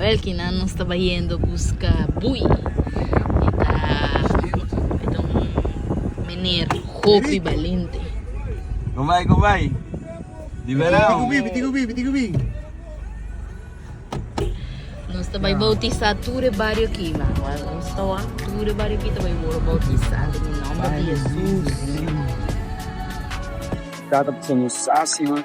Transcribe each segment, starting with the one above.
Awel kinan nos ta bayendo buska bui. E ta e ta un mener hopi balente. Con bay con bay. Di verao. Piti cubi piti cubi. Nos ta bay bautisa tur e bario aki man. Awel nos ta wak tur e bario aki ta bay wor bautisa den e nomber di Jesus. Tata pasobra nos sasi man.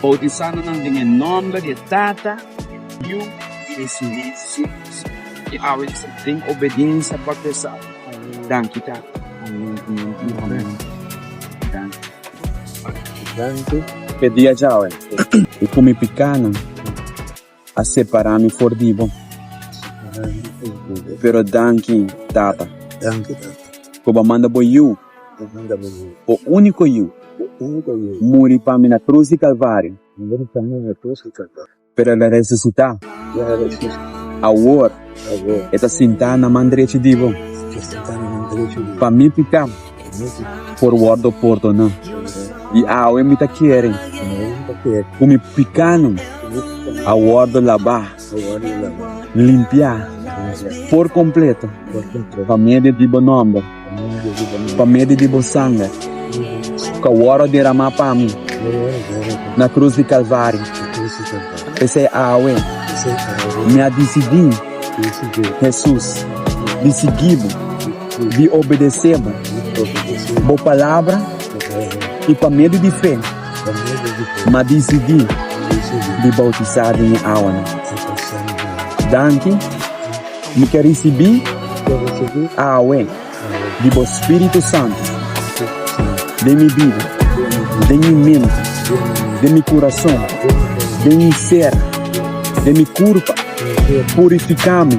Boutisándonan den e nòmber di e Tata, di Yu i di su Spiritu i awe i den obediensia pa Pesá. Danki Tata. Amen. Danki. Danki p'e dia djawe i ku mi pikánan. a separa mi for di bo. Pero danki, Tata, ku bo a manda bo Yu, bo úniko Yu, muri pa mi na krus di Kalvario, pero el a resusitá. Awor e ta sintá na man drechi di bo, pa mi piká. por wordo pordona. I awe mi ta kere ku mi pikanan a wordo labá, limpiá, por kompleto pa medio di bo nòmber, pa medio di bo sanger ku a wordo deramá pa mi na krus di Kalvario. P'esei awe mi a disidí, Hesus, di sigui bo. di obedesé bo, bo palabra i pa medio di fe mi a disidí di boutisá den e awa nan. Danki, mi ta risibí awe di bo spiritu santu den mi bida, den mi mente, den mi kurason, den mi ser, den mi kurpa, purifiká mi.